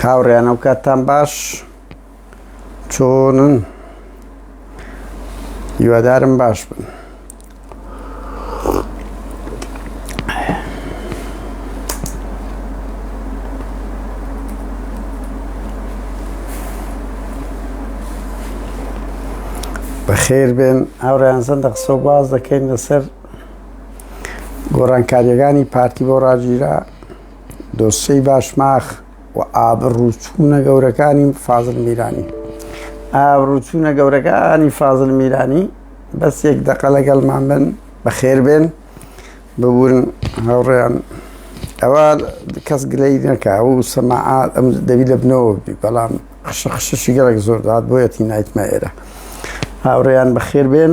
هاوڕێیان ئەو کاتتان باش چۆنن هیوادارم باش بن بەخێر بێن ئەوڕیان زەندە قسە باز دەکەین لەسەر گۆڕانکاریەکانی پارتی بۆ ڕاگیرا دۆسەی باشماخ و ئابڕوچوونە گەورەکانی فازل میرانی ئابڕوچوونە گەورەکانی فازل میرانی بەس یەک دەقە لەگەڵمان بن بەخێربێن ببوورن هاوڕێیان ئەوە کەس گلەی نەکە و سەماعات ئەم دەوی لە بنەوە بی بەڵام خشە خشەشی گەڵک زۆر دات بۆیەتی نایتمە ئێرە هاوڕێیان بەخێربێن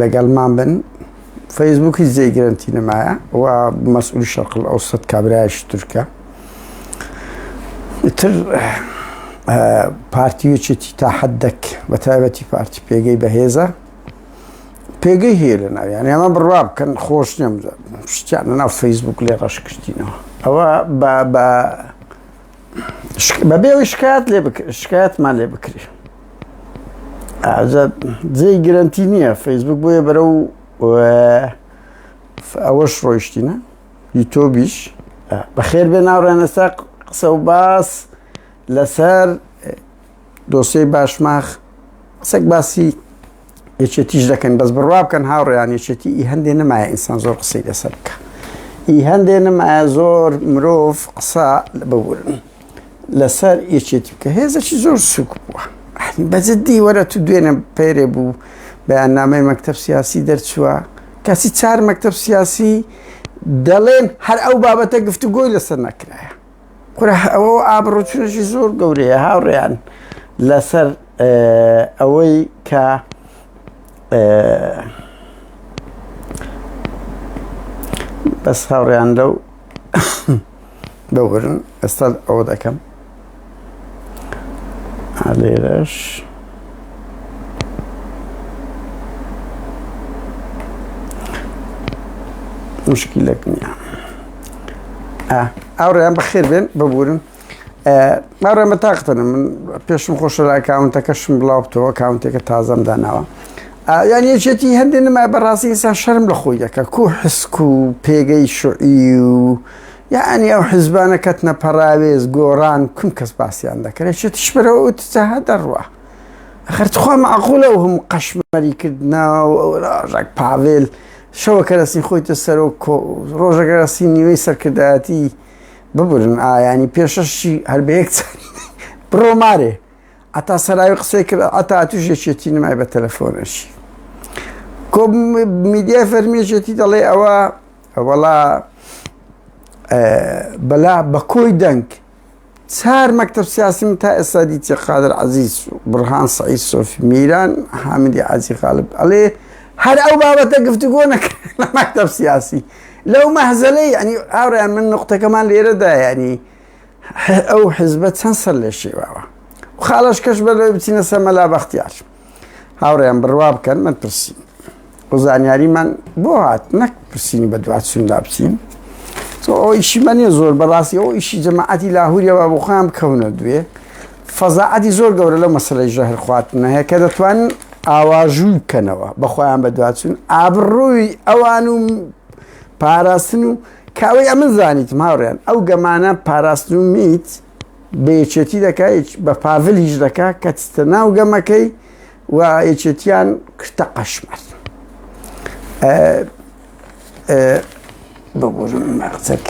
لەگەڵمان بن فەیسبوک هیچ جێی گرنتی نمایە و مەسئول شەقل ئەو سەد کابراش تورکە تر پارتی وچێتی تا حەدەک بە تایبەتی پارتی پێگەی بەهێزە پێگەی هەیە لە ناویان ئەمە بڕوا بکەن خۆش نێم شتیان ناو فەیسبوک لێ ڕەش کردینەوە ئەوە بە بەبێ ئەوی شکایەت لێ شکایەتمان لێ بکری جێی گرنتی نییە فەیسبوک بۆیە بەرە و ئەوەش ڕۆیشتینە یوتۆبیش بەخێر بێ ناوڕێنەسا قسە و باس لەسەر دۆسێی باشماخ قسەک باسی یەکێتیش دەکەن بەس بڕوا بکەن هاوڕێیان یەکێتی ئی هەندێ نمایە ئینسان زۆر قسەی لەسەر بکە ئی هەندێ نمایە زۆر مرۆڤ قسە ببورن لەسەر یەکێتی بکە هێزەکی زۆر سوک بووە بەجددی وەرە تو دوێنە پێرێ بوو بەیاننامەی مەکتب سیاسی دەرچووە کەسی چار مەکتب سیاسی دەڵێن هەر ئەو بابەتە گفتوگۆی لەسەر نەکرایە کورە ئەوە ئابڕوو چونەشی زۆر گەورەیە هاوڕێیان لەسەر ئەوەی کە بەس هاوڕێیان لەو دەوبرن ئێستا ئەوە دەکەم لێرەش مشکلەک نییە ئاوڕێیان بەخێر بێن ببورن ماڕێن بە تاقتەنە من پێشم خۆشە لە ئەکاونتەکەشم بڵاو بتەوە کاونتێکە تازەم داناوە یان یەکێتی هەندێک نما بەڕاستی ئینسان شەرم لە خۆی دەکە کو حسک و پێگەی شعی و یعنی ئەو حزبانە کەتنە پەراوێز گۆڕان کوم کەس باسییان دەکرێت شێتیش بەرەوە وتجاها دەڕوە خەرخوا معقولە و هەم قەشمەری کردنا و ئەوراژێک پاوێل شەوەکەرەسی خۆیتە سەرۆک کۆ ڕۆژەکەرەسی نیوەی سەرکردایەتی ببرن ئایانی پێشەشی هەر بە یەک چاری بڕۆ مارێ ئەتا سەراوی قسەی کرد ئەتا توش یەکێتی نمای بە تەلەفۆنەشی کۆ میدیای فەرمیێتی دەڵێ ئەوە وەڵا بەلا بە کۆی دەنگ چار مەکتەب سیاسی من تا ئێستا دیتیە قادر عزیز و بڕهان سعید سۆفی میران حامدی عزی غالب ئەڵێ هەر ئەو بابەتە گفتوگۆ نەکرد لە مەکتەب سیاسی لەو مەهزەلەی ینی ئاڕیان من نقطەکەمان لێرەدا ینی ئەو حزبە چەند سەر لێ شێواوە خاڵش کەش بەرەوەی بچینە سەمەلا بەختیار هاوڕێیان بڕوا بکەن من پرسی بۆ زانیاریمان بۆ هات نەک پرسیینی بە دوات سوندا بچین تۆ ئەو ئیشی من نیە زۆر بەڕاستی ئەو ئیشی جەماعەتی لاهوریەوە بۆ خۆیان بکەونە دوێ فەزاعەتی زۆر گەورە لە مەسلەی ژەهر خواتنە هەیە کە دەتوان ئاواژوو بکەنەوە بەخۆیان بە دواتچون ئابڕووی ئەوان و پاراستن و کاوەی ئەمە زانیت ماوریان ئەو گەمانە پاراستن و میت بە یەکێتی دەکا بە پاڤل هیچ دەکا کە چتە ناو گەمەکەی و یەکێتیان کرتە قەشمەر ببوورم مەقچەک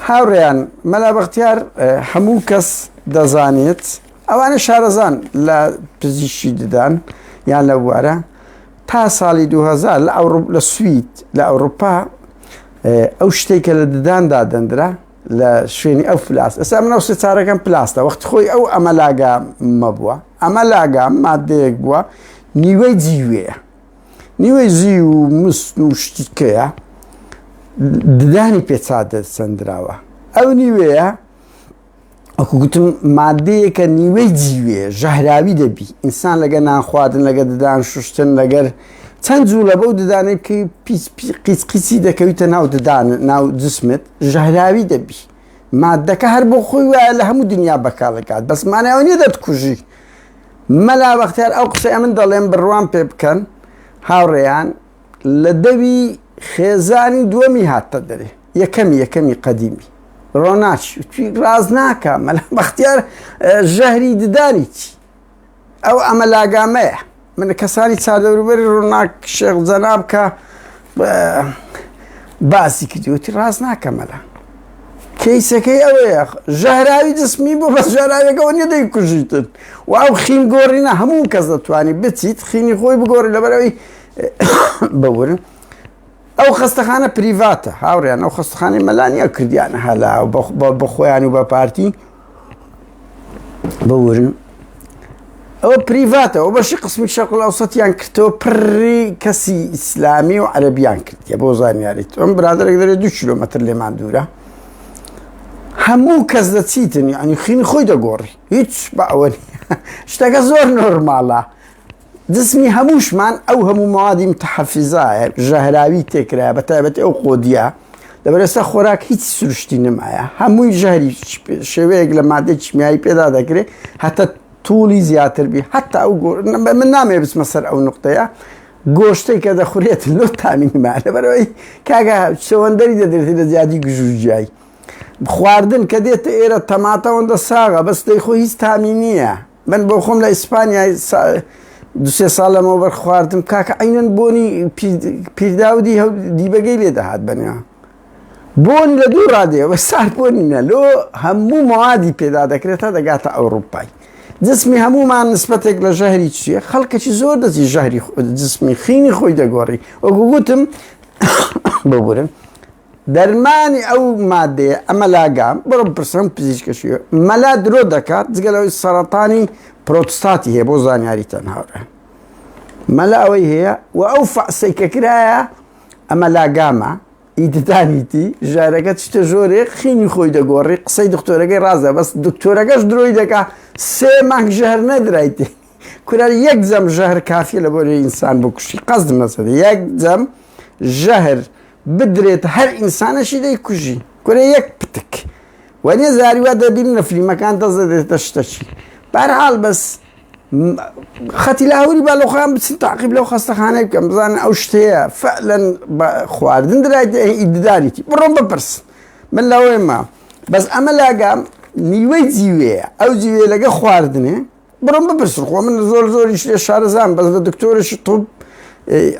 هاوڕێیان مەلا بەختیار هەموو کەس دەزانێت ئەوانە شارەزان لە پزیشی ددان یان لە بوارە تا ساڵی دوو هەزار لە ئەوڕوپ لە سوید لە ئەوروپا ئەو شتێک کە لە ددان دادەندرا لە شوێنی ئەو پلاس ئەسا منەوە سێ چارەکەم پلاستە وەخت خۆی ئەو ئەمە لاگا مەبووە ئەمە لاگا مادەیەک بووە نیوەی جیوەیە نیوەی زی و مست و شتیکەیە ددانی پێچا دەسەندراوە ئەو نیوەیە وەکو گوتم مادەیەکە نیوەی جیوێ ژەهراوی دەبی ئینسان لەگە نانخواردن لەگە ددان شوشتن لەگەر چەند جوو لە بەو ددانێک کە قیچ قیچی دەکەویتە ناو ددان ناو جسمت ژەهراوی دەبی مادەکە هەر بۆ خۆی وایە لە هەموو دنیا بەکارەکات بەسمانەوە نیە دەتکوژی مەلا بەختیار ئەو قسەیە من دەڵێم بڕوام پێ بکەن هاوڕێیان لە دەوی خێزانی دووەمی هاتتە دەرێ یەکەمی یەکەمی قەدیمی ڕۆناچی توی ڕاز ناکە مەلا بەختیار ژەهری ددانی چی ئەو ئەمە لاگامەیە من کەسانی چادەوروبەری ڕووناک شێخ جەناب کە باسی کردوتی ڕاز ناکەمەلا کەیسەکەی ئەوەیە ژەهراوی جسمی بۆ بە ژەراوێکەوە نیە دەی کوژیتن و ئەو خین گۆڕینە هەموو کەس دەتوانانی بچیت خینی خۆی بگۆڕی لەبەرەوەی ببورن ئەو خەستەخانە پریڤاتە هاوڕیان ئەو خەستخانەی مەلانیا کردیان هەلا بە خۆیان و بە پارتی بورن ئەوە پریڤاتەوە بەشی قسمی شەقل ئەوسەتیان کردەوە پڕی کەسی ئیسلامی و عەربیان کردیە بۆ زانیاریت ئەم برادێک دەێت دو کیلومتر لێمان دوورە هەموو کەس لە چیتن ینی خینی خۆی دەگۆڕی هیچ بە ئەوە شتەکە زۆر نۆرماڵە جسمی هەمووشمان ئەو هەموو مەوادی متحفزایە ژەهراوی تێکرایە بە تایبەتی ئەو قۆدیە لەبەرەسە خۆراک هیچ سروشتی نمایە هەمووی ژەهری شێوەیەک لە مادە چمیایی پێدا دەکرێت هەتە توڵی زیاتر بی حتا ئەو من نامێ بچمە سەر ئەو نقطەیە گۆشتەی کە دەخورێت لۆ تامینمان لەبەرەوەی کاگە چەوەندەری دەدرێتی لە زیادی گژوجیایی خواردن کە دێتە ئێرە تەماتەوەندە ساغە بەس دەی خۆ هیچ تامی نییە من بۆ خۆم لە ئیسپانیای دوسێ ساڵ لەمەوبەر خواردم کاکە عینەن بۆنی پیرداودی هەو دیبەگەی لێ دەهات بەنیا بۆن لە دوو ڕادێ بە سار بۆنی نە لۆ هەموو موادی پێدا دەکرێت تا دەگاتە ئەوروپای جسمی هەمومان نسبەتێک لە ژەهری چیە خەڵکەی زۆر دەزی ژەهری جسمی خینی خۆی دەگۆڕی وەگوگوتم ببورن دەرمانی ئەو مادەیە مەلاگا بڕۆ بپرسەم پزیشکە شیوە مەلا درۆ دەکات جگە لەوەی سەرەتانی پرۆتستاتی هەیە بۆ زانیاری تەن هاورێ مەلا ئەوەی هەیە و ئەو فەعسەی کە کرایە ئەمە لاگامە ئیددانیتی ژارەکە چتە ژۆرێ خینی خۆی دەگۆڕی قسەی دکتۆرەکەی ڕازە بەس دکتۆرەکەش درۆی دەکا سێ مانگ ژەهر نەدرایتی کورە یەک جەم ژەهر کافیە لە بۆری ئینسان بکوشی قەزد مەسەدە یەک جەم ژەهر بدرێت هەر ئینسانەشی دەی کوژی کورە یەک پتک وەنیە زاری وا دەبین لە فلیمەکان دەزە دێتە شتەچی بارحاڵ بەس خەتی لاهوری با لەخۆیان بچن تاقیب لەو خەستەخانەی بکەم بزانن ئەو شتەیە فەلەن خواردن درایت ئیددانێکی بڕۆم بپرس من لەوەی ما بەس ئەمە لاگام نیوەی جیوەیە ئەو جیوێ لەگە خواردنێ بڕۆن بپرسن خۆ من زۆر زۆریش لێ شارەزام بەس لە دکتۆرەشی طب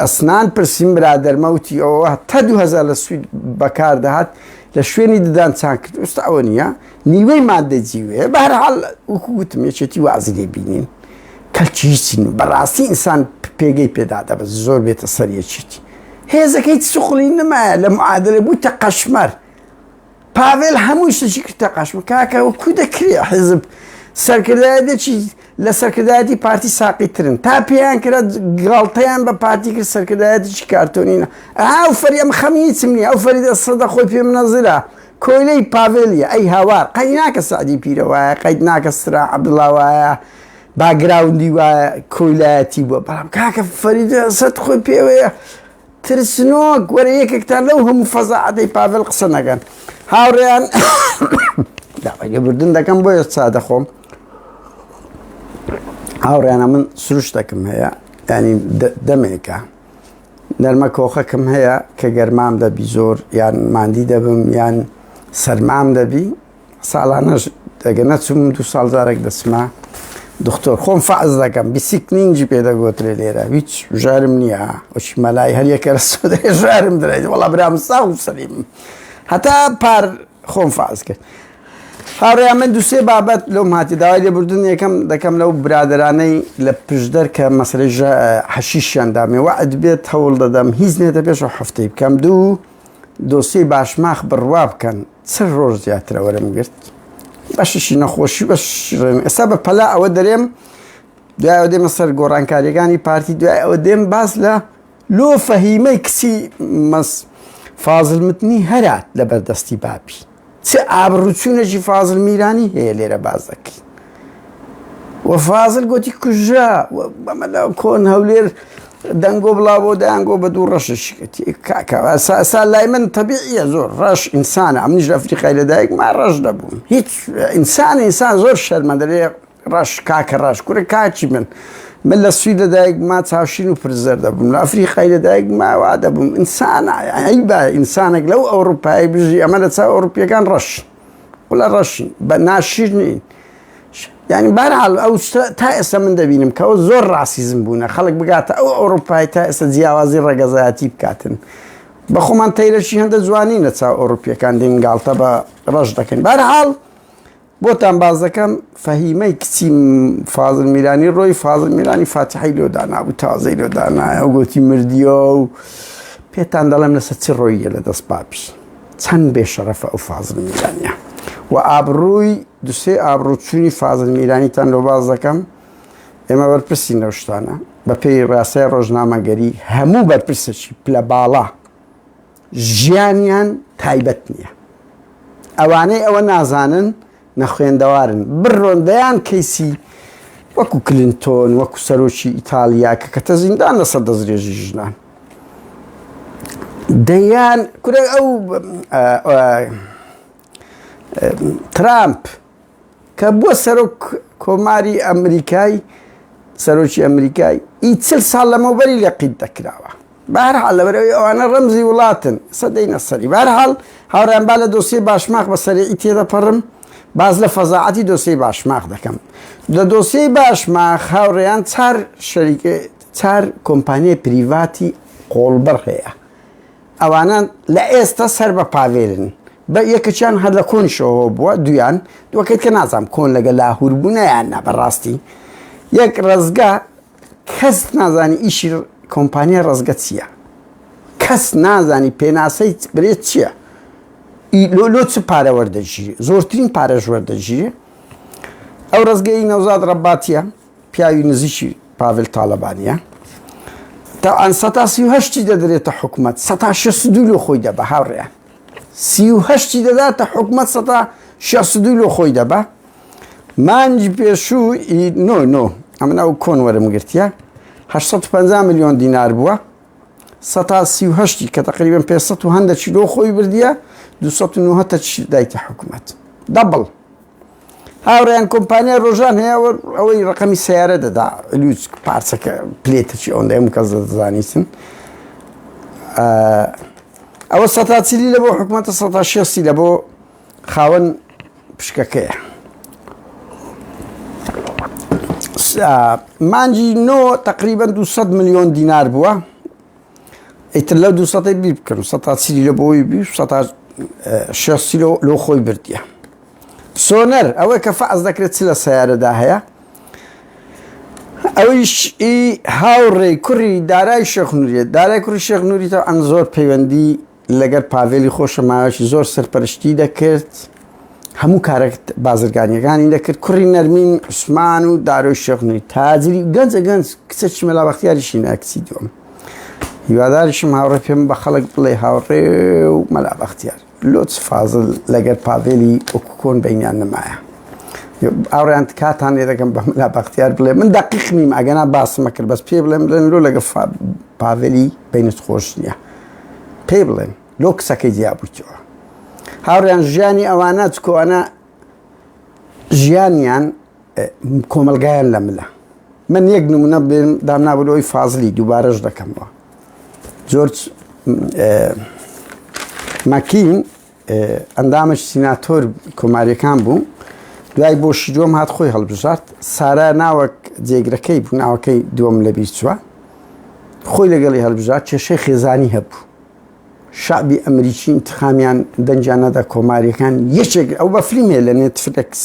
ئەسنان پرسیم برادەرمەوتی ئەوە تا 2000 لە سوید بەکار دەهات لە شوێنی ددان چان کرد ئوستا ئەوە نییە نیوەی مادە جیوێ بەرحال وەکو گوتم یەکێتی وازی لێ بینین کەلکی هیچین بەڕاستی ئینسان پێگەی پێدا دەبە زۆر بێتە سەریەکیتی هێزەکەی سوخلی نمایە لە معادلە بوویتە قەشمەر پاڤێل هەمووی شتەچی کردە قاشم کاکە و کو دەکرێ حزب سەرکردایەتێکی لە سەرکردایەتی پارتی ساقی ترن تا پێیان کرا گاڵتەیان بە پارتی کرد سەرکردایەتیی کارتۆنینە ئاو فەری ئەم خەمیچم نیە ئەو فەریدە سەدە خۆی پێ منەزرە کۆیلەی پاڤێلیە ئەی هاوار قەی ناکە سعدی پیرە وایە قەیت ناکە سرا عبدڵا وایە باگراوندی وایە کۆیلایەتی بووە بەڵام کاکە فەریدە سەد خۆی پێوەیە ترسنۆک وەرە یەکێکتان لەو هەموو فەزاعەتەی پاڤێڵ قسە نەکەن هاوڕێیان داوای لێبوردن دەکەم بۆیە چا دەخۆم هاوڕێیانە من سروشتەکەم هەیە ینی دەمێکە نەرمە کۆخەکەم هەیە کە گەرمام دەبی زۆر یان ماندی دەبم یان سەرمام دەبی ساڵانەش ئەگەر نەچووم دوو ساڵ جارێک دەچمە دکتۆر خۆم فەعز دەکەم بیسیکنینجی پێ دەگوترێ لێرە هیچ ژارم نییە ئۆچی مەلای هەریەکە ژارم درێت وڵا برام ساو سەلیم هەتا پار خۆم فاز کرد. هاڕێ من دوسێ بابەت لەو ماتی داوای لێبوردن یەکەم دەکەم لەو برادرانەی لە پشدەر کە مەسلەی حەشیشیان دامێ وەعد بێت هەوڵ دەدەم هیچ نێتە پێش و هەفتەی بکەم دوو دۆسیەی باشماخ بڕوا بکەن چل ڕۆژ زیاترە وەرم گرت بەشیشی نەخۆشی بەش ڕێن ئێستا بە پەلا ئەوە دەرێم دوای ئەو دێمە سەر گۆڕانکاریەکانی پارتی دوای ئەوە دێم باز لە لۆ فەهیمەی کچی مەس فازلمتنی هەرات لە بەردەستی باپی چ ئابڕوچونێکی فازل میرانی هەیە لێرە باس دەکەین و فازل گوتی کوژرا بەمە لە کۆن هەولێر دەنگۆ بڵا بۆ دەیانگۆ بە دوو ڕەششکەتی کاکەوە ساسا لای من تەبیعە زۆر ڕەش ئینسانە ئەمنیش لە فریقای لەدایک ما ڕەش دەبووم هیچ ئینسان ئینسان زۆر شەرمەدەێ ڕەش کاکە ڕەش کورە کاکی من من لە سوید لە دایک ما چاوشین و پرزەر دەبووم لە ئەفریقای لە دایک ماوا دەبووم ئینسان ئەی بە ئینسانێک لەو ئەوروپایی بژی ئەمە لە چاو ئەوروپیەکان ڕەش قلە ڕەشین بە ناشیر نین ینی بارحال ئەو تا ئێستا من دەبینم کەەوە زۆر ڕاستیزم بوونە خەڵک بگاتە ئەو ئەوروپای تا ئێستا جیاوازی ڕەگەزایەتی بکاتن بە خۆمان تەیرەشی هەندە جوانی نەچاو ئەوروپیەکان دێنگالتە بە ڕەش دەکەین بارحاڵ بۆتان باس دەکەم فەهیمەی کچی فازل میرانی ڕۆی فازل میرانی فاتحی لۆ دانابوو تازەی لۆ دانایە و گوتی مردیە و پێتان دەڵێم لەسەر چ ڕۆیە لە دەست پاپی چەند بێ شەرەفە ئەو فازل میرانە و ئابڕووی دوسێ ئابڕووچوونی فازل میرانیتان لۆ باز دەکەم ئێمە بەرپرسی نەشتانە بەپێی ڕاستای ڕۆژنامەگەری هەموو بەرپرسێکی پلە باڵا ژیانیان تایبەت نیە ئەوانەی ئەوە نازانن نەخوێندەوارن بڕۆن دەیان کەیسی وەکو کلینتۆن وەکو سەرۆکی ئیتالیا کە کەتە زیندان لەسەر دەسترێژی ژنان دەیان کورە ئەو ترامپ کە بووە سەرۆک کۆماری ئەمریکای سەرۆکی ئەمریکای ئی چل ساڵ لەمەوبەری لەقیت دەکراوە بارحال لەبەرەوەی ئەوانە ڕەمزی وڵاتن سەدەی نەسەری بارحال هاوڕیان با لە دۆسی باشماخ بە سەرەی تێدەپەڕم باز لە فەزاعەتی دۆسی باشماخ دەکەم لە دۆسی باشماخ هاوڕێیان چار شەریکە چار کۆمپانیای پریڤاتی قۆڵبڕ هەیە ئەوانە لە ئێستا سەر بە پاڤێرن بە یەکەکیان هەر لە کۆنیشەوە بووە دوویان دووەکەت کە نازام کۆن لەگە لاهور بوو نەیان نا بەڕاستی یەک ڕزگا کەس نازانی ئیشی کۆمپانیا ڕزگە چییە کەس نازانی پێناسەی برێ چییە لۆ لۆ چ پارە وەردەگیری زۆرترین پارەش وەردەگیری ئەو ڕزگەی نەوزاد ڕەباتە پیاوی نزیکی پاڤل تاالبانە تاعاان سەتاسیهشتی دەدرێتە حکوومەت سە شە سدول و خۆی دەبە هاوڕێیان سی و هەشتی دەداتە حکومەت سەتا شێخ سدوی لۆ خۆی دەبا مانجی پێشوو نۆ نۆ ئەمن ئەو کۆن وەرم گرتیە 850 میلیۆن دینار بووە سەتا سی و هەشتی کە تقریبن پێ هەندە چیلۆ خۆی بردیە 290 دایتە حکومەت دەبڵ هاوڕێیان کۆمپانیای ڕۆژان هەیە و ئەوەی ڕقەمی سیارە دەدا لوچ پارچەکە پلێتەچی ئەوەندە هەموو کەس دەزانیسن ئەوە سەتاچلی لە بۆ حکوومەتە سەتا شێستی لە بۆ خاوەن پشکەکەیە مانجی نۆ تقریبا 200 میلیۆن دینار بووە ئیتر لەو دوو سەدەی بیر بکەن و سەتا چلی لە بۆی بی و سەتا شێستی لۆ خۆی بردیە سۆنەر ئەوەی کە فەعز دەکرێت چ لە سیارەدا هەیە ئەویش ئی هاوڕێی کوڕی دارای شێخ نوریێت دارای کوڕی شێخ نوریتەوە ئەم زۆر پەیوەندی لەگەر پاڤێلی خۆشە ماوەیەکی زۆر سەرپەرشتی دەکرد هەموو کارە بازرگانیەکانی دەکرد کوڕی نەرمین عوسمان و دارۆی شەخنوی تاجری گەنجە گەنج کچە چمەلا بەختیاریشی ناکچی دوم هیواداریشم هاوڕێ پێم بە خەڵک بڵێ هاوڕێ و مەلا بەختیار لۆچ فازل لەگەر پاڤێلی ئۆکوکۆن بینیان نمایە ئاڕیان کاتان لێ دەکەم بە مەلا بەختیار بڵێ من دەقیق نیم ئەگەنا باسمە کرد بەس پێ بڵێم بڵێن لۆ لەگە پاڤێلی بینت خۆش نییە پێی بڵێن لۆ کچەکەی جیابوویتەوە هاوڕیان ژیانی ئەوانە چکۆوانە ژیانیان کۆمەلگایان لە ملە من یەک نمونە بێن دامنابلۆی فازلی دووبارەش دەکەمەوە جۆرج مەکین ئەندامێکی سیناتۆر کۆماریەکان بوو دوای بۆ شیدۆم هات خۆی هەڵبژارد سارا ناوەک جێگرەکەی بوو ناوەکەی دووەم لە بیرچوە خۆی لەگەڵی هەلبژار کێشەی خێزانی هەبوو شعبی ئەمریکی انتخامیان دەنجان نەدا کۆماریەکان یەکێک ئەو بە فلیمێ لە نێتفلکس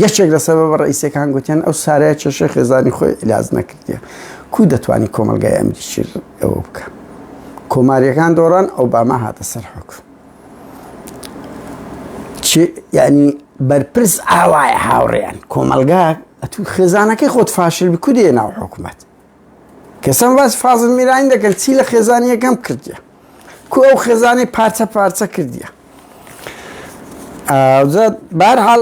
یەکێک لە سەبە بە ڕئیسەکان گوتیان ئەو سارای کێشەی خێزانی خۆی لاز نەکردە کو دەتوانانی کۆمەلگای ئەمریکی ئەوە بکە کۆماریەکان دۆڕان ئەو باما هاتە سەر حکوم یانی بەرپرس ئاوایە هاوڕێیان کۆمەلگا ئەتو خێزانەکەی خۆت فاشل بکودێ ناو حکومەت کەسم باس فازل میران دەکەن چی لە خێزانیەکەم کردیە کو ئەو خێزانی پارچە پارچە کردیە ئاجات بارحاڵ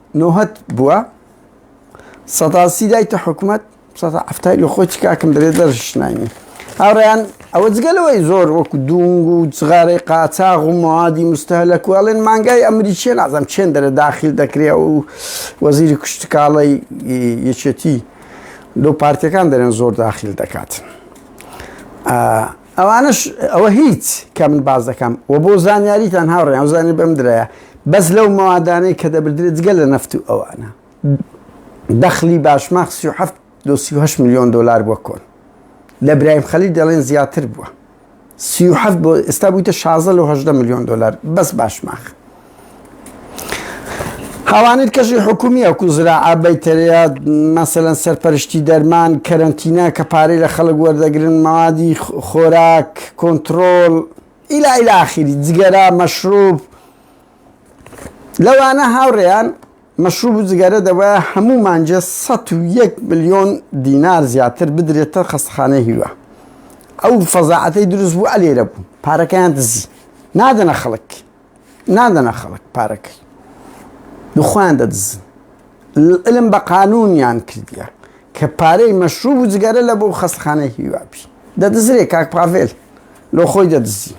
نۆهەد بووە سەداسی دایتە حکوومەت سەدا ئەفتای لە خۆی کاکم دەبێت دەرشناینی هاوڕیان ئەوە جگەلەوەی زۆر وەکو دوونگ و جغارەی قاچاغ و موادی مستهلەک و ئەڵێن مانگای ئەمریکیە نازم چێن دەرە داخیل دەکرێ و وەزیری کوشتکاڵی یەکێتی لەو پارتەکان دەرێن زۆر داخیل دەکات. ئەوانەش ئەوە هیچ کە من باس دەکەم وە بۆ زانیاریتان هاوڕێیان و زانیاری بەم درایە بەس لەو مەوادانەی کە دەبردرێت جگە لە نەفت و ئەوانە دەخلی باشماخ 37 لۆ 38 ملیۆن دۆلار بووە کۆن لە برایم خەلیل دەڵێن زیاتر بووە 37 بۆ ئێستا بوویتە 16 لۆ 18 ملیۆن دۆلار بەس باشماخ هاوانیر کەژی حکومی ئەکو زراعە بەیتەرەیە مەسەلەن سەرپەرشتی دەرمان کەرەنتینە کە پارەی لە خەڵک وەردەگرن مەوادی خۆراک کۆنترۆل ئیلا ئیلا ئاخیری جگەرە مەشروب لەوانە هاوڕێیان مەشروب و جگەرە دەبە هەموو مانجە 101 ملیۆن دینار زیاتر بدرێتە خەستخانەی هیوا ئەو فەزاعەتەی دروست بوو ئەلێرە بوو پارەکەیان دزی نادەنە خەڵک نادەنە خەڵک پارەکەی و خۆیان دەدزن علم بە قانونیان کردیە کە پارەی مەشروب و جگەرە لە بۆ خەستخانەی هیوابی دەدزرێ کاک پاڤێل لۆ خۆی دەدزی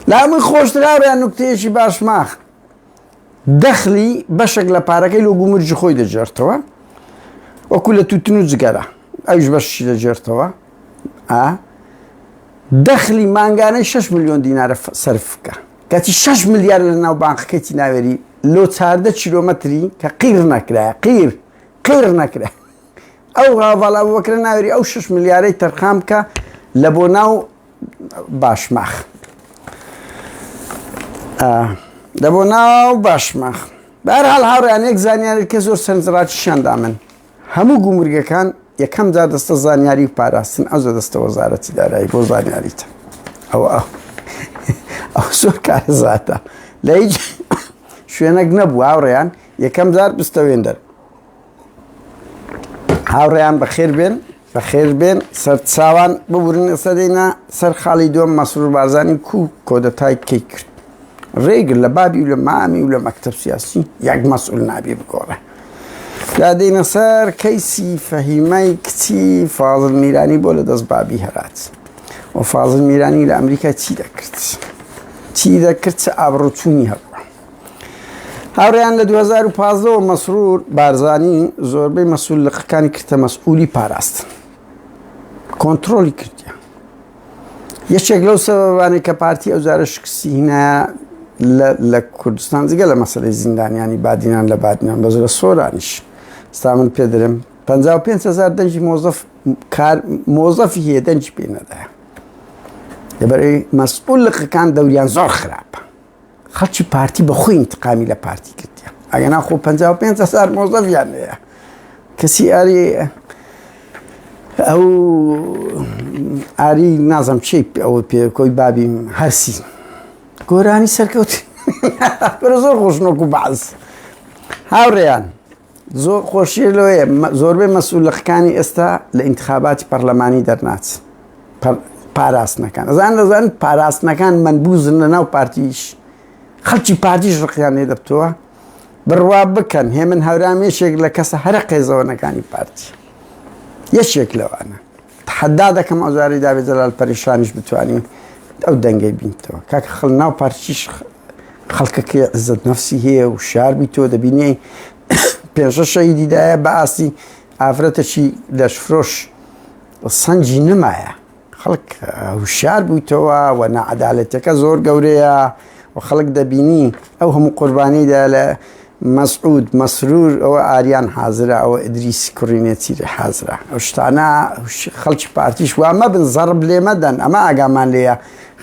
لە هەمووی خۆشتراویان نوکتەیەکی باشماخ دەخلی بەشێک لە پارەکەی لۆ گومرجی خۆی دەجێرتەوە وەکو لە توتن و جگەرە ئەوش بەشی دەجێرتەوە ئا دەخلی مانگانەی شەش ملیۆن دینارە سەرف بکە کەچی شەش ملیار لە ناو بانقەکەیتی ناوێری لۆ چاردە کیلۆمەتری کە قیر نەکرایە قیر قیر نەکرا ئەو هاڤاڵا بەکرە ناوێری ئەو شش ملیارەی تەرخان بکە لە بۆ ناو باشماخ لە بۆ ناو باشماخ بەرحال هاوڕیان یەک زانیارێت کە زۆر سنجڕاتیشیاندا من هەموو گومرگەکان یەکەم جار دەستە زانیاری و پاراستن ئەوجە دەستە وەزارەتی دارایی بۆ زانیاریتە ئەو ئەو زۆر کارەزاتە لە هیچ شوێنەک نەبوو هاوڕێیان یەکەم جار بستەوێندەر هاوڕێیان بەخێر بێن بەخێر بێن سەر چاوان ببورن ئێستا دێنە سەر خاڵی دووەم مەسرور بارزانی کو کۆدەتای کەی کرد ڕێگر لە بابی و لە مامی و لە مەکتب سیاسی یەک مەسئول نابی بگۆڕێ دا دێنە سەر کەیسی فەهیمای کچی فازل میرانی بۆ لە دەست بابی هەرات و فازل میرانی لە ئەمریکا چی دەکرد چی دەکرد چ ئابڕوچوونی هەبوو هاوڕێیان لە دوو هەزار و پازدە وە مەسرور بارزانی زۆربەی مەسول لقەکانی کردە مەسئولی پاراستن کۆنتترۆلی کردیان یەکێک لەو سەبانەی کە پارتی ئەو جارە شکستی هینایە لە کوردستان جگە لە مەسلەی زیندانیانی بادینان لە بادنان بەزرە سۆرانیش ستا من پێ درم 5هزار دەنجی مۆزف مۆزەفی هەیە دەنجی پێ نەدایە لەبەر مەسئول لقەکان دەوریان زۆر خراپە خەڵکی پارتی بە خۆی انتقامی لە پارتی کردیە ئەگەنا خۆ 55 هزار مۆزەفیان هەیە کەسی ئاری ئەو ئاری نازم چی ئەوە پێ کۆی بابین هەرسی گۆرانی سەرکەوت زۆر خۆشنۆک و بەعز هاوڕێیان زۆر خۆشیە لۆیە زۆربەی مەسولەخکانی ئێستا لە ئینتخاباتی پەرلەمانی دەرناچ پاراستنەکان ئەزان دەزان پاراستنەکان من بوزن لە ناو پارتیش خەلکی پارتیش ڕقیان لێ دەبتەوە بڕوا بکەن هێ من هەورام یەکێک لە کەسە هەرە قێزەوەنەکانی پارتی یەکێک لەوانە حەدا دەکەم ئەوزاری داێ جەلال پەریشانیش بتانی ئەو دەنگەی بینتەوە کاک خڵ ناو پارتیش خەڵکەکەی عزت نفسی هەیە و شار بی تۆ دەبینی پێشە شەهیدی دایە بە ئاستی ئافرەتەکی لەشفرۆش سەنجی نمایە خەڵک هوشار بوویتەوە و نەعادالەتەکە زۆر گەورەیە و خەڵک دەبینی ئەو هەموو قوربانیدا لە مەسعود مەسرور ئەوە ئاریان حازرە ئەوە ئەدریس کوڕینێتی لە حازرە ئەو شتانە خەڵکی پارتیش وامە بن زەڕب لێمەدەن ئەمە ئاگامان لێە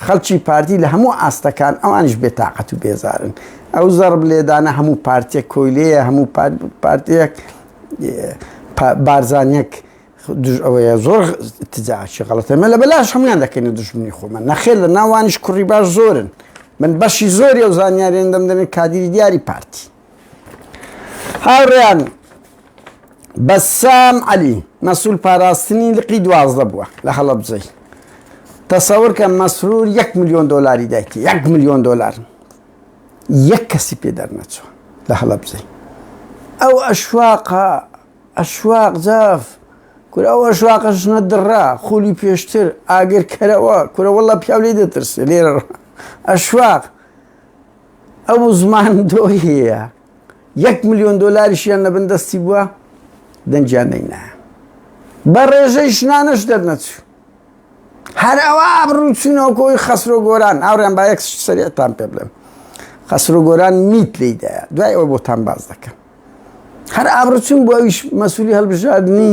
خەڵکی پارتی لە هەموو ئاستەکان ئەوانیش بێتاقەت و بێزارن ئەو زەڕب لێدانە هەموو پارتێک کۆیلەیە هەموو پارتێک بارزانانیەک دژ ئەوەیە زۆر تجاچی غڵەتە مە لە بەلاش هەموان دەکەنە دژمنی خۆمە نەخێر لە ناوانیش کوڕی باش زۆرن من بەشی زۆری ئەو زانیاریان دەمدەێن کادیری دیاری پارتی هاوڕێیان بەسام عەلی مەسول پاراستنی لقی دوازدە بووە لە هەڵەبجەی تەسەورکە مەسرور یەک میلیۆن دلاری دایتی یەک میلیۆن دلار یەک کەسی پێ دەرنەچوە لە هەڵەبجەی ئەو ئەشواقا ئەشواق جاف کورە ئەو ئەشواقە ژنە دڕا خولی پێشتر ئاگرکەرەوە کورەوەڵە پیاو لێ دەترسێ لێرە ئەشواق ئەو زمان دۆهەیە یەک ملیۆن دۆلاریشیان نەبن دەستی بووە دەنجیان نەینا بە ڕێژەی ژنانەش دەرنەچوو هەر ئەوە ئابروچوونەوەکۆی خەسرۆ گۆران ئاوریان با یەک سەریعتان پێ بڵێم خەسرۆ گۆران میت لیدایە دوای ئەوە بۆتان باز دەکەم هەر ئابروچون بۆ ئەویش مەسوولی هەڵبژاردننی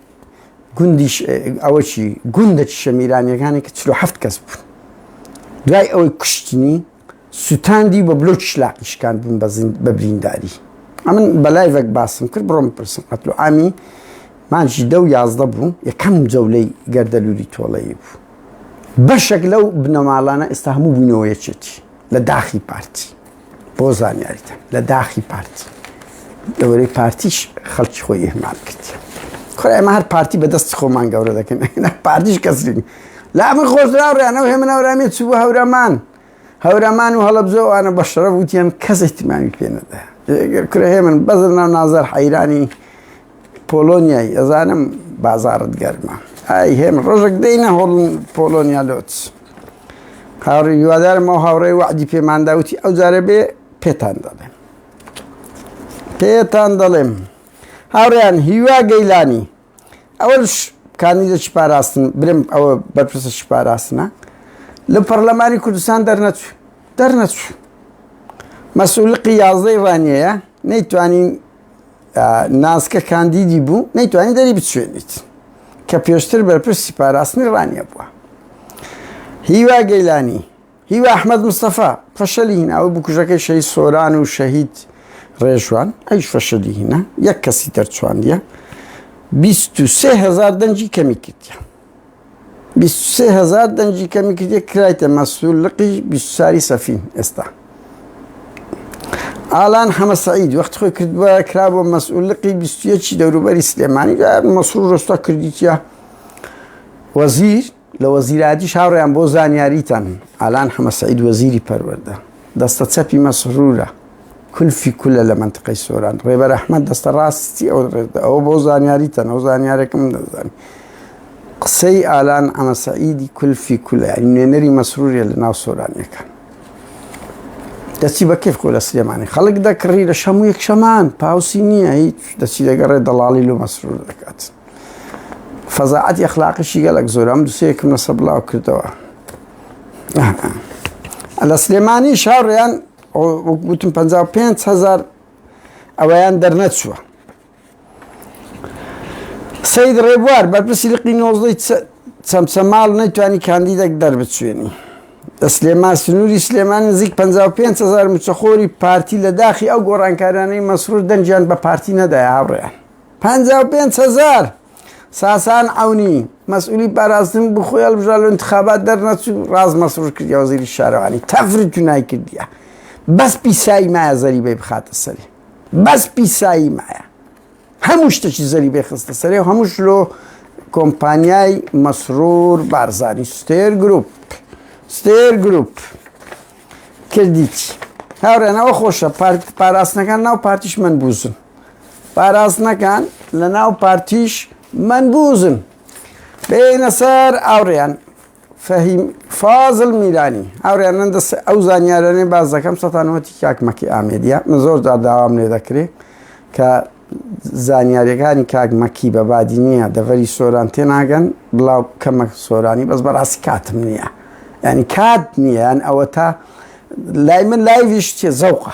گوندی ئەوە چی گوندە شەمیرانیەکانی کە چلو هەفت کەس بوون دوای ئەوەی کوشتنی سووتاندی بە بلۆ شلاقی شکان بوون بە برینداری ئەمن بەلایڤێک باسم کرد بڕۆم پرسم قەتلو ئامی مانجی دە و یازدە بوو یەکەم جەولەی گەردەلووری تۆڵەیی بوو بەشێک لەو بنەماڵانە ئێستا هەموو بوونەوەیەکێتی لە داخی پارتی بۆ زانیاریتان لە داخی پارتی دەوەرەی پارتیش خەڵکی خۆی ئهمال کرد خۆی ئەمە هەر پارتی بەدەستی خۆمان گەورە دەکەن پارتیش کەسرین لا من خۆزراڕیانەوە هێ منەورامی چوو هەورەمان هەورەمان و هەڵبزۆ ئەە بە شەرە وتیان کەس احتیمامی پێنەدا کرێ من بەزر ناو نازار حەیرانی پۆلۆنیای ئەزانم بازارت گەرمە ئای هێم ڕۆژێک دەینە هۆڵ پۆلۆنیا لۆت هاوڕی هیوادارم ئەو هاوڕێ وعدی پێمانداوتی ئەو جارە بێ پێتان دەڵێم پێتان دەڵێم هاوڕیان هیوا گەیلانی ئەوەش کانی لە شپاراستن برم ئەوە بەرپرسە شپاراستنە لە پەرلەمانی کوردستان دەرنەچوو دەرنەچوو مەسولقی یازدەی ڕانیەیە نەیتوانین ناسکە کاندیدی بوو نەیتوانی دەری بچێنیت کە پێشتر بەرپرسی پاراستنی ڕانیە بووە هیوا گەیلانی هیوا ئەحمد مستەفا فەشەلی هیناوە بکوژەکەی شەی سۆران و شەهید ڕێژوان ئەیش فەشەلی هینە یەک کەسی دەرچواندە 23هزار دەنجی کەمی کردە بیست و سێ هەزار دەنگی کەمی کردیە کرایتە مەسول لقی بیست و چاری سەفین ئێستا ئالان حەمە سعید وەخت خۆی کردووە کرا بۆ مەسئولقی بیستویەکی دەوروبەری سلێمانی مەسرور ڕۆستا کردیتە وەزیر لە وەزیرادیش هاوڕیان بۆ زانیاریتان ئالان حەمە سعید وەزیری پەروەەردە دەستە چەپی مەسرورە کلفی کولە لە مەنتقەی سۆران ڕێبەر ئەحمەد دەستە ڕاستی ئەو ڕێدا ئەوە بۆ زانیاری تەنەوە زانیارێکم دەزانانی قسەی ئالان ئەمە سەعیدی کلفی کولە نوێنەری مەسروریە لە ناو سۆرانەکان دەچی بە کەف کۆ لە سلێمانی خەڵک دەکڕی لە شەمو یەک شەمان پاوسی نییە هیچ دەچی دەگەڕێ دەڵاڵی لۆ مەسرور دەکات فەزاعەت یەخلاقشی گەلک زۆرم دوسەیەکم لەسە بڵاو کردەوە لە سلێمانی شاڕیان وەک وتم پەنجا و پێنج هەزار ئەوەیان دەرنەچووە سید ڕێبوار بەرپرسی لقی نۆزدەی چەمچەماڵ نەیتوانی کاندیدێک دەربچوێنی لە سلێمان سنووری سلێمان نزیک 55 هزار مچەخۆری پارتی لە داخی ئەو گۆڕانکارانەی مەسرور دەنجیان بە پارتی نەدای هاوڕێیان 55 هزار ساسان عونی مەسئولی پاراستن بو خۆی هەڵبژرا لە انتخابات دەرنەچوو ڕاز مەسرور کردیا وەزیری شارەوانی تەفر جونای کردیا بەس پیسایی مایە زەریبەی بخاتە سەری بەس پیسایی مایە هەموو شتێکی زەریبەی خستە سەری و هەمووش لۆ کۆمپانیای مەسرور بارزانی ستێر گروپ ستێر گروپ کردیت هاورێنەوە خۆشە پارت پاراستنەکان ناو پارتیش من بوزن پاراستنەکان لە ناو پارتیش منبوزن بێنە سەر ئاوڕیان فەهیم فازل میرانی هاوریانن دەست ئەو زانیارانەی باز دەکەم سەتانەوەتی کاکمەکی ئامێدیە من زۆر جار داوام لێ دەکرێت کە زانیاریەکانی کاکمەکی بە بادی نییە دەڤەری سۆران تێناگەن بڵاو کەمە سۆرانی بەس بەڕاستی کاتم نییە ینی کات نییە یان ئەوە تا لای من لایویش چێ زەوقە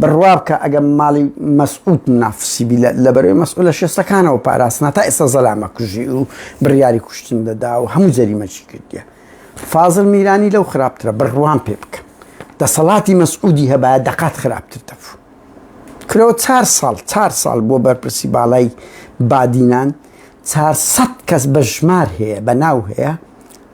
بڕوابکە ئەگە ماڵی مەسعود منافسی بی لە بەرەوەی مەسعولە شێستەکانەوە پاراستنا تا ئێستا زەلامە کوژی و بڕیاری کوشتن دەدا و هەموو جەریمەچی کردە فازل میرانی لەو خراپترە بڕوان پێ بکە دەسەڵاتی مەسعودی هەبە دەقات خراپتر دەفو کرەوە چار ساڵ چار ساڵ بۆ بەرپرسی باڵای بادینان 400 کەس بە ژمار هەیە بە ناو هەیە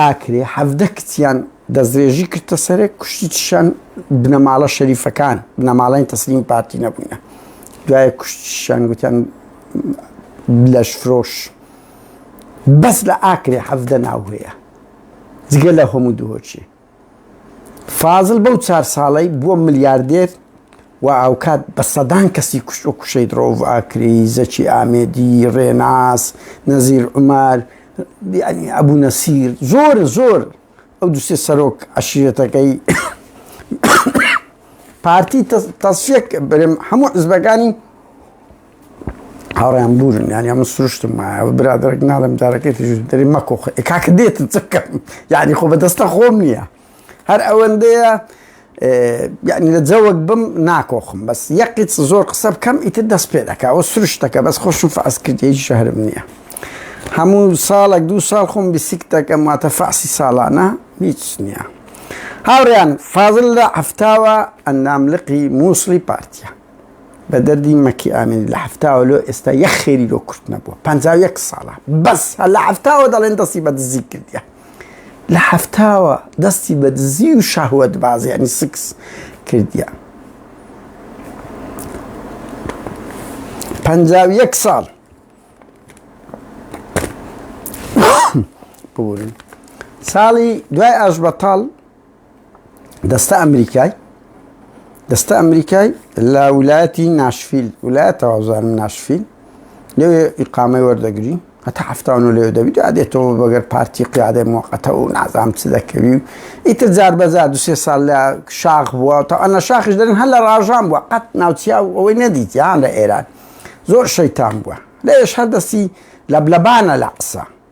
ئاکرێ حەڤدە کچیان دەسترێژی کردتە سەرێک کوشتی چشان بنەماڵە شەریفەکان بنەماڵین تەسلیم پارتی نەبووینە دوایە کوشتشان گوتیان لەش فرۆش بەس لە ئاکرێ حەڤدە ناوهەیە جگە لە هەموو دووەچێ فازل بەو چار ساڵەی بووە ملیاردێر و ئاوکات بە سەدان کەسی کوشت و کوشەی درۆڤ ئاکری زەکی ئامێدی ڕێناس نەزیر عمار ئەبوو نەسیر زۆر زۆر ئەو دوسێ سەرۆک عشیرەتەکەی پارتی تەسیەک برم هەموو حزبەکانی هاوڕیان بوورن یانیا من سروشتم وایە برادێک ناڵم دارەکەی تژدەری مەکۆ کاکە دێتن چکەم یعنی خۆ بەدەستە خۆم نییە هەر ئەوەندەیە یعنی لە جەوەک بم ناکۆخم بەس یەقیت زۆر قسە بکەم ئیتر دەست پێ دەکەەوە سروشتەکە بەس خۆشم فاسکردی شەهرم نییە هەموو ساڵێک دوو ساڵ خۆم بیسیک دەکەم واتە فاسی ساڵانە هیچ نییە هاوڕیان فازل لە هەفتاوە ئەندام لقی مووسڵی پارتە بە دەردی مەکی ئامێنی لە حەفتاوە لۆ ئێستا یەک خێری لۆ کورت نەبووە پەنجا و یەک ساڵە بەس هەر لە حەفتاوە دەڵێن دەستی بە دزی کردیە لە حەفتاوە دەستی بە دزی و شەهوەت بازی ینی سکس کردیە پەنجا و یەک ساڵ ببورن ساڵی دوای ئاش بەتاڵ دەستە ئەمریکای دەستە ئەمریکای لە ویلایەتی ناشفیل ویلایەت تەوازانم ناشفیل لەوێ ئیقامەی وەردەگری هەتا هەفتان و لێ دەبیت دێتەوە بەگەر پارتی قیادە موقەتە و نازام چ دەکەوی و ئیتر جار بەزار دو سێ سال لە شاخ بووە تا ئەە شاخش دەن هەر لە ڕژان بووە قەت ناوچیا و ئەوەی نەدیت یان لە ئێران زۆر شەیتان بووە لەش هەردەستی لە بلەبانە لە قسە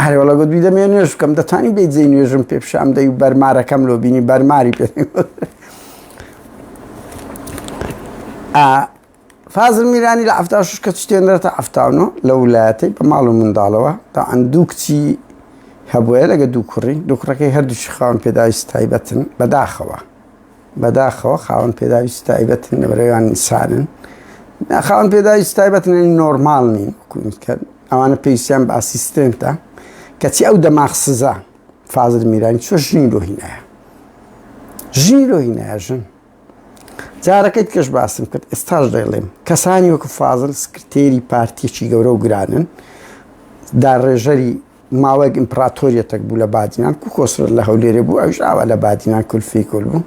ئەرێ وەڵا گوت بیدە مێ نوێژ بکەم دەتانی بێ جێ نوێژم پێ پیشان دەی و بەرمارەکەم لۆ بینی بەرماری پێ فازل میرانی لە ئەفتا شش کە شتێنرێتە ئەفتاونۆ لە وولایەتی بە ماڵ و منداڵەوە تا ئەندوو کچی هەبووە لەگە دوو کوڕی دوو کوڕەکەی هەردووشی خاون پێداویست تایبەتن بەداخەوە بەداخەوە خاوەن پێداویست تایبەتن لە بەرەوان ئینسانن خاوەن پێداویست تایبەتن نۆرمال نین کە ئەوانە پێویستیان بە ئاسیستنتە کەچی ئەو دەماغ سزا فازر میرانی چۆ ژنی لۆهینایە ژنی لۆهینایە ژن جارەکەیت کەش باسم کرد ئێستاش دەڵێم کەسانی وەکو فازل سکرتێری پارتیەکی گەورە و گرانن داڕێژەری ماوەیەک ئیمپڕاتۆریەتەک بوو لە بادینان کو کۆسرەت لە هەولێرێ بوو ئەوش ئاوا لە بادینان کولفی کول بوو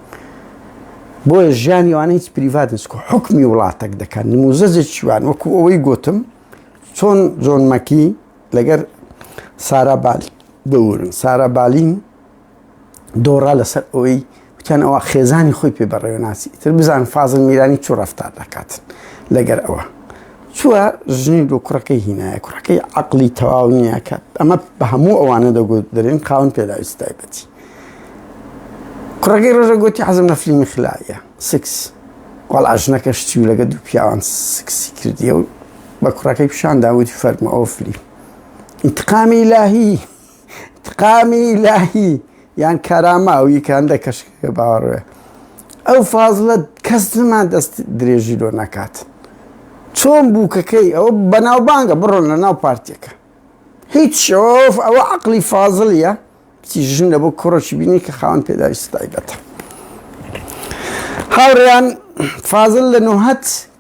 بۆیە ژیانی وانە هیچ پریڤات نیست کو حکمی وڵاتەک دەکەن نموزەزێکی وان وەکو ئەوەی گوتم چۆن جۆن مەکی لەگەر سارا بالی دەورن سارا بالین دۆڕا لەسەر ئەوەی وتیان ئەوە خێزانی خۆی پێ بەڕێوناسی تر بزان فازل میرانی چوو ڕفتار دەکات لەگەر ئەوە چووە ژنی دوو کوڕەکەی هینایە کوڕەکەی عقلی تەواو نییە کە ئەمە بە هەموو ئەوانە دەگوت دەرێن خاون پێداویست تایبەتی کوڕەکەی ڕۆژە گوتی حەزم لە فلیمی خلایە سکس وەڵا ژنەکەش چی و لەگە دوو پیاوان سکسی کردیە و بە کوڕەکەی پیشان داوتی فەرمە ئەو فلیم انتقامی لاهی ئینتقامی ئیلاهی یان کارامە ئەو یەکە هەندێک کەشکەکە باوەڕێ ئەو فازلە کەس نمان دەست درێژی لۆ ناکات چۆن بووکەکەی ئەو بەناوبانگە بڕۆن لە ناو پارتێکە هیچ شۆف ئەوە عقلی فازلیە بچی ژن لە بۆ کوڕەشی بینی کە خاوەن پێداویست تایبەتە هاوڕیان فازل لە نوهەت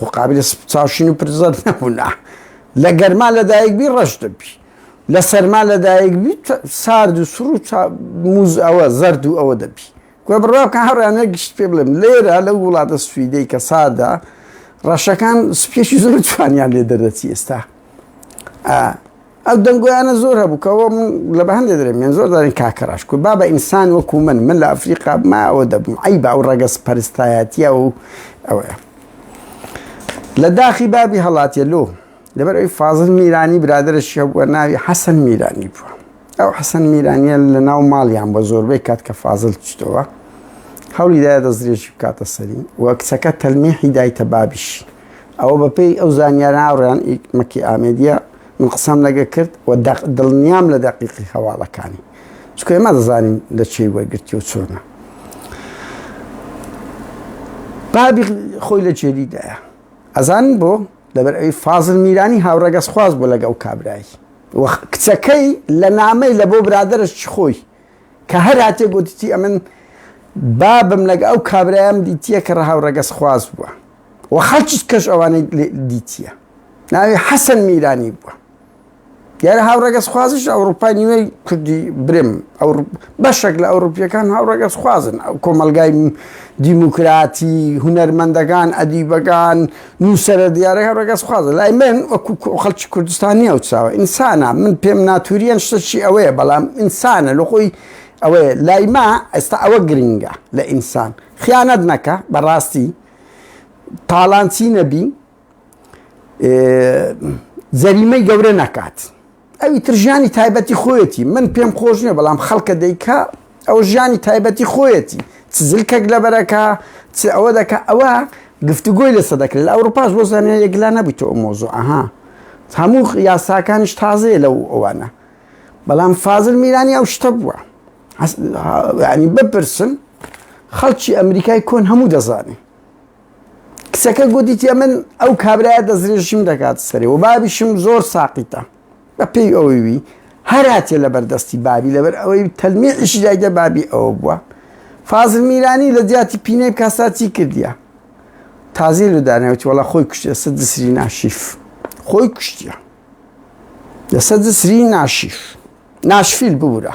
خۆ قابلە چاوشین و پرزەت نەبوونا لە گەرما لەدایک بی ڕەش دەبی لە سەرما لەدایک بی سارد و سڕ و موز ئەوە زەرد و ئەوە دەبی گوێ بڕاکە هەڕانە گشت پێ بڵێم لێرە لەو وڵاتە سویدەی کە ساردە ڕەشەکان سپێکی زۆر جوانیان لێ دەردەچی ئێستا ئەو دەنگۆیانە زۆر هەبوو کە ئەوە من لە بە هەندێ دەرێ من زۆر دارین کاکە ڕاش کو بابە ئینسان وەکو من من لە ئەفریقا ما ئەوە دەبم ئەی با ئەو ڕەگە سپەرستایەتیە و ئەوەیە لە داخی بابی هەڵاتە لۆ لەبەر ئەوی فازل میرانی برادرەشی هەبووە ناوی حەسەن میرانی بووە ئەو حەسەن میرانیە لە ناو ماڵیان بە زۆربەی کات کە فازل چتەوە هەولی دایە دەستدرێژی بکاتە سەری وە کچەکە تەلمیحی دایتە بابیش ئەوە بەپێی ئەو زانیاراڕیان مەکی ئامێدیە من قسەم لەگە کرد و دەق دڵنیام لە دەقیقی هەواڵەکانی چکە ئێمە دەزانین لە چی وەرگرتی و چۆنە بابی خۆی لە جێریدایە ئەزانن بۆ لەبەر ئەوی فازل میرانی هاوڕەگەز خواز بۆ لەگەڵ کابرایی کچەکەی لە نامەی لە بۆ برادرش خۆی کە هەر هاتیە گۆتیتی ئەمن بابم لەگە ئەو کابرایەم دیتیە کە ڕەهاو ڕەگەز خواز بووە و خەڵکیش کەش ئەوانەی دیتیە ناوی حەسەن میرانی بووە دیارە هاوڕەگەز خوازش ئەوروپای نیوەی کوردی برم بەشێک لە ئەوروپیەکان هاوڕەگەز خوازن ئەو کۆمەلگای دیموکراتی هونەرمەندەکان ئەدیبەکان نووسەرە دیارەکە ڕەگەز خوازە لای من وەکو خەڵکی کوردستان نییە و چاوە ئینسانە من پێم ناتوریان شتەکی ئەوەیە بەڵام ئینسانە لە خۆی ئەوەیە لای ما ئێستا ئەوە گرنگە لە ئینسان خیانەت نەکە بەڕاستی تاڵانچی نەبی جەریمەی گەورە نەکات. ئەوی تر ژیانی تایبەتی خۆیەتی من پێم خۆش نیە بەڵام خەڵکە دەیکا ئەو ژیانی تایبەتی خۆیەتی چ زلکەک لەبەرەکە چ ئەوە دەکە ئەوە گفتوگۆی لەسە دەکرێت لە ئەوروپاش بۆ زانە یەکلا نەبییت ئەو مۆزۆ ئەها هەموو یاساکانیش تازەیە لەو ئەوانە بەڵام فازل میرانی ئەو شتە بووە ینی بپرسن خەڵکی ئەمریکای کۆن هەموو دەزانێ کچەکە گوتی تێ من ئەو کابرایە دەستدرێژیم دەکات سەرێ و بابیشم زۆر ساقیتە بە پێی ئەوەی وی هەراتێ لەبەر دەستی بابی لەبەر ئەوەی تەلمیعیشی دایدە بابی ئەوە بووە فازل میرانی لە جیاتی پینەی کاساتی کردیە تازی لە داناوتی وڵا خۆی کوشتە سە دسری ناشیف خۆی کوشتە لەسە دسری ناشیف ناشفیل ببوورە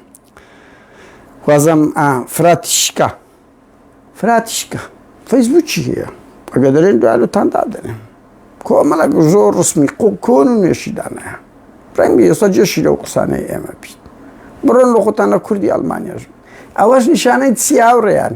خوازم فراتی شکا فراتی شکا فەیسبوکی هەیە ئەگە دەرێن دوالتان دادەێن کۆمەڵک زۆر ڕسمی قوکۆن و نێشیدانەیە ڕەنگی ئێستا جێشی لەو قسانەی ئێمە بیت بڕۆن لە خۆتان لە کوردی ئەلمانیاژ ئەوەش نیشانەی چیاوڕێیان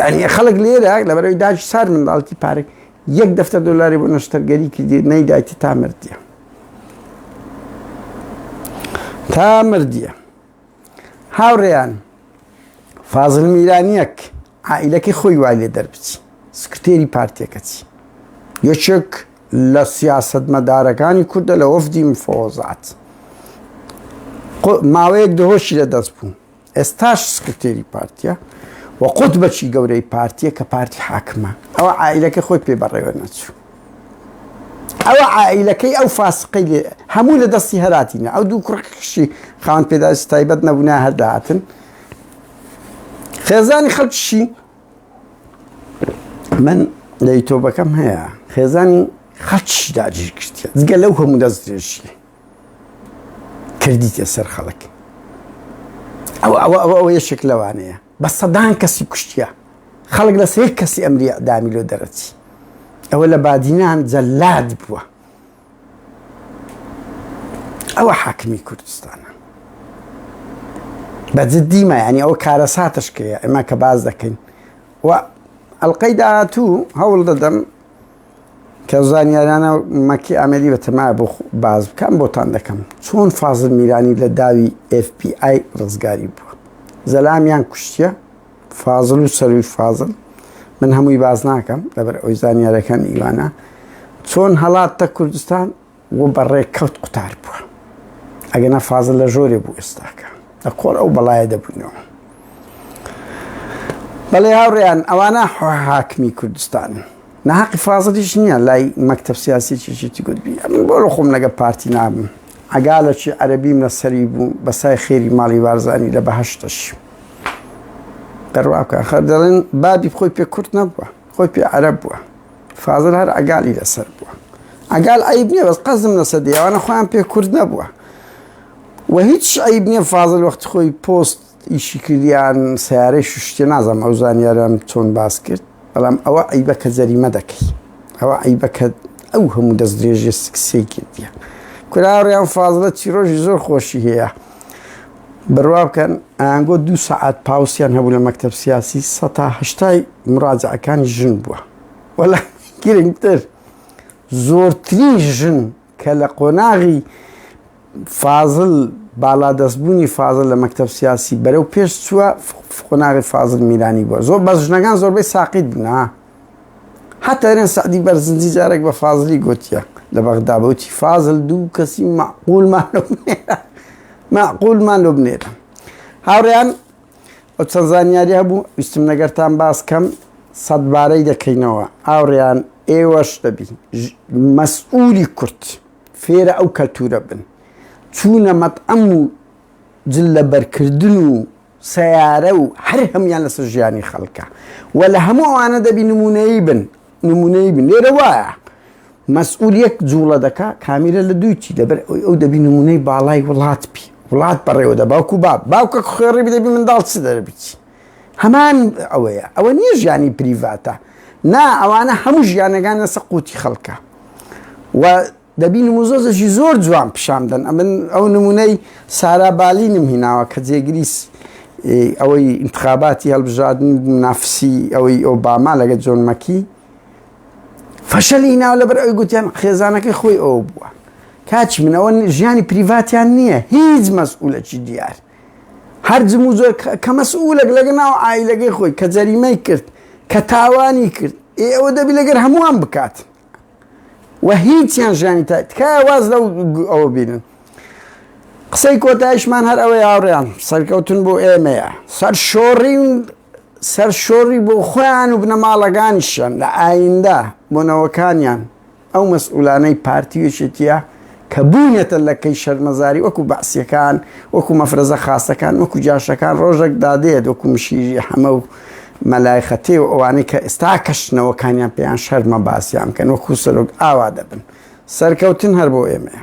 یانی خەڵک لێرە لەبەرەوەی داش سار منداڵکی پارک یەک دەفتەر دۆلاری بۆ نەشتەرگەری کردی نەیدایتی تا مردە تا مردە هاوڕێیان فازل میرانیەک عائلەکەی خۆی وای لێ دەربچی سکرتێری پارتێکەچی یەکێک لە سیاست مەدارەکانی کوردە لە وەفدی مفۆزات ماوەیەک دهۆشی لە دەست بوو ئێستاش سکرتێری پارتیە و قوت بەچی گەورەی پارتیە کە پارتی حاکمە ئەوە عیلەکە خۆی پێ بەڕێوە نەچوو ئەوە عیلەکەی ئەو فاسقی لێ هەموو لە دەستی هەراتینە ئەو دوو کوڕکشی خاوەن پێداش تایبەت نەبوونا هەرداهاتن خێزانی خەڵکیشی من لە یتۆبەکەم هەیە خێزانی خەڵکیش داگیر کردە جگە لەو هەموو دەست درێژی کردیتە سەر خەڵک ئەو ئەوە ئەوە ئەوە یەشێک لەوانەیە بە سەدان کەسی کوشتە خەڵک لە سێ کەسی ئەمری ئەدامی لۆ دەرەچی ئەوە لە بادینان جەلاد بووە ئەوە حاکمی کوردستانە بە جددیمە ینی ئەو کارە ساتشکەیە ئەمە کە باز دەکەین و ئەلقەی داهاتوو هەوڵ دەدەم کە زانیارانە مەکی ئامێدی بە تەمایە بۆ باز بکەم بۆتان دەکەم چۆن فازل میرانی لە داوی ئێف پی ئای ڕزگاری بووە زەلامیان کوشتە فازل و سەروی فازل من هەمووی باز ناکەم لەبەر ئەوی زانیارەکان ئیوانە چۆن هەڵاتتە کوردستان و بە ڕێکەوت قوتار بووە ئەگەنا فازل لە ژۆرێ بوو ئێستاکە لە کۆر ئەو بەڵایە دەبوونەوە بەڵێ هاوڕێیان ئەوانە حاکمی کوردستان ناحقی فازلیش نییە لای مەکتب سیاسی چیشتی گوتبی ئەمن بۆ خۆم لەگە پارتی نابم ئەگا لە چی عەربیم لە سەری بوو بەسای خێری ماڵی وارزانی لە بەهشتش دەڕواکە خەر دەڵێن بابی خۆی پێ کورت نەبووە خۆی پێ عەرەب بووە فازل هەر عەگالی لەسەر بووە عەگال عیب نییە بەس قەزم لەسەر دیوانە خۆیان پێ کورد نەبووە و هیچ عیب نییە فازل وەخت خۆی پۆست ئیشی کردیان سیارەی شتێ نازانم ئەو زانیاران چۆن باس کرد بەڵام ئەوە عیبە کە جەریمە دەکەی ئەوە عیبە کە ئەو هەموو دەست درێژێ سکسەی کردیە کوراڕیان فازلە چیرۆژی زۆر خۆشی هەیە بڕوا بکەن ئەیانگۆ دوو سەعات پاوسیان هەبوو لە مەکتەب سیاسی سە تا هەشتای مڕاجعەکانی ژن بووە وەلا گرنگتر زۆرترین ژن کە لە قۆناغی فازل باڵا دەستبوونی فازل لە مەکتب سیاسی بەرەو پێش چووە قۆناغی فازل میرانی بووە زۆر بەس ژنەکان زۆربەی ساقیت بوون حەتە ئەرێن سەعدی بەرزنجی جارێک بە فازلی گوتیە لە بەغدا بەوتی فازل دوو کەسی معقولمان لۆ بنێرە معقولمان لۆ بنێرە هاوڕیان ئەو چەند زانیاری هەبوو ویستم نەگەرتان باس کەم سەدبارەی دەکەینەوە ئاوڕیان ئێوەش دەبی مەسئولی کورت فێرە ئەو کەلتورە بن چوونە مەتعەم و جل لە بەرکردن و سەیارە و هەر هەموویان لەسەر ژیانی خەڵکە و لە هەموو ئەوانە دەبی نمونەیی بن نمونەیی بن لێرە وایە مەسئول یەک جوڵە دەکا کامیرە لە دووچی لەبەر ئەوی ئەو دەبی نمونەی باڵای وڵات بی وڵات بەڕێوە دە باوکو با باوکە خوێڕی بدەبی منداڵ چ دەربچی هەمان ئەوەیە ئەوە نییە ژیانی پریڤاتە نا ئەوانە هەموو ژیانەکان لەسە قوتی خەڵکە و دەبی نموزەزەکی زۆر جوان پیشان دەن ئەمن ئەو نمونەی سارا بالینم هیناوە کە جێگریس ئەوەی انتخاباتی هەڵبژادن نافسی ئەوەی ئۆباما لەگە جۆن مەکی فەشەلی ناو لەبەر ئەوی گوتیان خێزانەکەی خۆی ئەو بووە کاچی منەوە ژیانی پریڤاتیان نییە هیچ مەسئولەکی دیار هەر جموزۆر کە مەسئولەک لەگە ناو ئایلەکەی خۆی کە جەریمەی کرد کە تاوانی کرد ئێ ئەوە دەبی لەگەر هەمووان بکات و هیچیان ژیانی تا تکایە واز لەو ئەوە بینن قسەی کۆتایشمان هەر ئەوەی هاوڕێیان سەرکەوتن بۆ ئێمەیە سەر شۆڕی سەر شۆڕی بۆ خۆیان و بنەماڵەکانیشیان لە ئایندە بۆنەوەکانیان ئەو مەسئولانەی پارتی وێشێتیە کە بوونەتە لەکەی شەرمەزاری وەکو بەعسیەکان وەکو مەفرەزە خاسەکان وەکو جاشەکان ڕۆژەک دادێت وەکو مشیری حەمە و مەلای خەتێ و ئەوانەی کە ئێستا کەشنەوەکانیان پێیان شەرمە باسیان بکەن وەکو سەرۆک ئاوا دەبن سەرکەوتن هەر بۆ ئێمەیە.